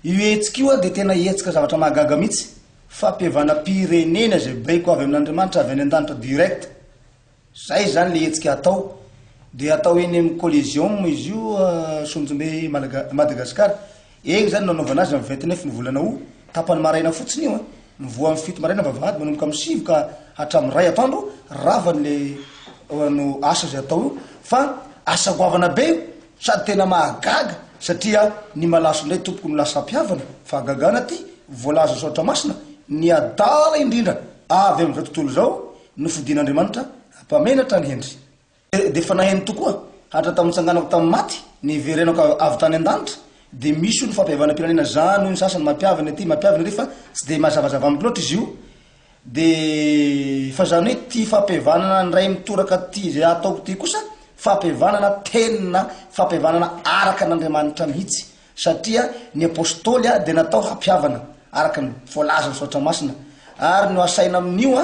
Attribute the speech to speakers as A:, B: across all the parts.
A: Io hetsika io dia tena hetsika zavatra mahagaga mihitsy, fampihavanam-pirenena izay baiko avy amin'Andriamanitra avy any an-danitra direct, izay izany ilay hetsika hatao, dia hatao eny amin'ny Coliseum izy io Sonjombe Malaga- Madagascar, eny izany no hanaovana azy amin'ny vingt neuf ny volana aout, tapany maraina fotsiny io an, mivoha amin'ny fito maraina ny vavahady manomboka amin'ny sivy ka hatramin'ny iray atoandro, ravany ilay asa izay hatao io fa asa goavana be io, Sady tena mahagaga satria ny malaso indray tompoko no lasa mpihavana, fahagagana ty, voalaza soratra masina, ny adala indrindra avy amin'izao tontolo izao no fidin'Andriamanitra mpamenatra an'i Hendry. Dia efa naheno tokoa hatra tamin'ny nitsanganako tamin'ny maty, niverenako avy tany an-danitra, dia misy hono fampihavanam-pirenena zany hoy ny sasany, mampihavana ity, mampihavana ery fa tsy dia mazavazava amiko loatra izy io, Dia fa izany hoe ity fampihavanana indray mitoraka ity izay ataoko ity kosa fampihavanana teny na fampihavanana araka an' Andriamanitra mihitsy, satria ny Apôstôly dia natao hampihavana araka ny voalazan'ny Soratra Masina, ary ny ho asaina amin'io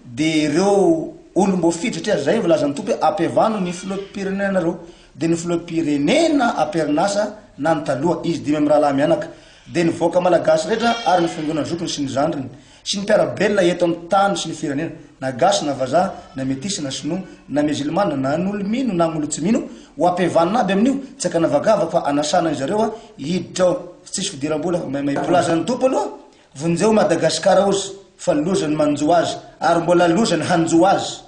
A: dia ireo olom-boafidy, satria izay no voalazan'ny Tompo hoe ampihavano ny filoham-pirenenanareo, dia ny filoham-pirenena am-perinasa na ny taloha, izy dimy mirahalahy mianaka. dia ny vahoaka malagasy rehetra ary ny fiangonana zokiny sy ny zandriny sy ny mpiara-belona eto amin'ny tany sy ny firenena, na gasy na vazaha, na metisy na sinoa, na mizilmana, na an'olo mino na an'olo tsy mino, ho ampihavanina aby amin'io, tsy ankanavakavaka fa anasana izy ireo hiditra ao fa tsisy fidiram-bola fa maimay be. Laza ny Tompo aloha, vonjeo Madagascar ozy fa loza ny manjo azy ary mbola loza ny hanjo azy.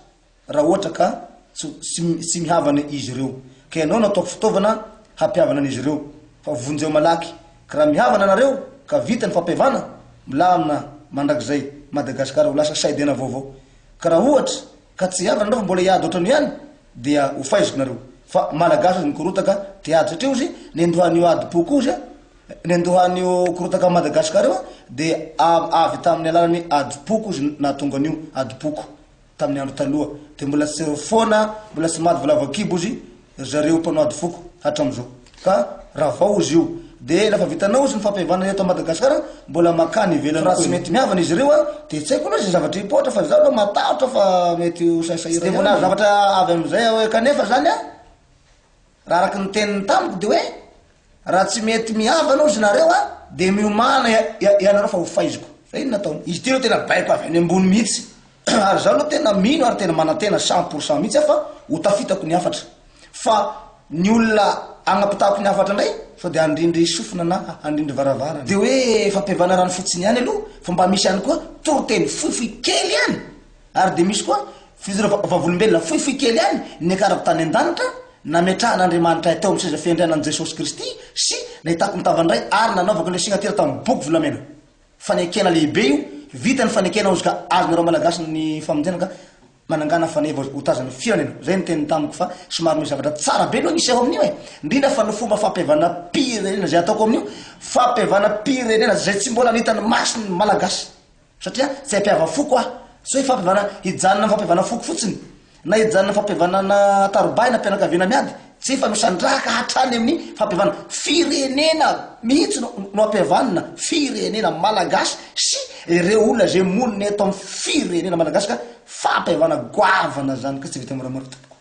A: raha ohatra ka tsy mihavana izy ireo, ka ianao no ataoko fitaovana hampihavana an'izy ireo, fa vonjeo malaky, ka raha mihavana nareo ka vita ny fampihavana, milamina mandrakizay Madagascar ho lasa saidena vaovao, ka raha ohatra ka tsy hihavana nareo fa mbola hiady ohatrany ihany dia ho faiziko nareo, fa Malagasy aza mikorotaka te hiady satria ozy nendohan'io adim-po koa ozy nendohan'io korotaka Madagascar io dia avy tamin'ny alalan'ny adim-poko ozy nahatonga an'io adim-poko. Tamin'ny andro taloha, dia mbola tsy foana, mbola tsy maty voalavo an-kibo ozy ry zareo mpanao ady foko hatram'izao. Ka raha vao ozy io, dia rehefa vitanao ozy ny fampihavanana eto Madagasikara, mbola mankany ivelany koa. Raha tsy mety mihavana izy ireo, dia tsy haiko aloha izay zavatra hipoitra, fa izaho aloha matahotra fa mety ho sahisahiana ihany. Tsy dia mbola hahazo zavatra avy amin'izay aho hoe kanefa izany an! Raha araka ny teniny tamiko dia hoe raha tsy mety mihavana ozy nareo a dia miomana ianareo fa ho faiziko. Fa inona ataony? Izy ity aloha tena baiko avy any ambony mihitsy ary izaho aloha tena mino ary tena manantena cent pour cent mihitsy aho fa ho tafitako ny hafatra. Fa ny olona agnapitahako ny hafatra indray sao dia handrindry sofina na handrindry varavarana. Dia hoe fampihavanarana fotsiny ihany aloha fa mba misy ihany koa toriteny fohifohy kely ihany Ary dia misy koa fijoroana vavolombelona fohifohy kely ihany niakarako tany an-danitra, nametrahan'Andriamanitray teo amin'ny seza fiandrianany Jesosy Kristy sy nahitako ny tavany iray ary nanaovako ilay signatira tamin'ny boky volamena. Fanekena lehibe io, vita ny fanekena hozy ka azonareo Malagasy ny famonjena ka manangana faneva ho tazan'ny firenena. Izay ny teniny tamiko fa somary misy zavatra tsara be aloha hiseho amin'io e! Indrindra fa ny fomba fampihavanam-pirenena izay ataoko amin'io, fampihavanam-pirenena izay tsy mbola nahita ny masony ny Malagasy. Satria tsy hampiava foko aho. Tsy hoe fampihavana hijanona amin'ny fampihavana foko fotsiny, na hijanona amin'ny fampihavanana tarobay na mpianakaviana miady. Tsy hoe fanosan-draka hatrany amin'ny fampihavana. Firenena mihitsy no no ampihavanina, firenena malagasy sy ireo olona izay monina eto amin'ny firenena malagasy ka fampihavana goavana izany ka tsy vita moramora tompoko.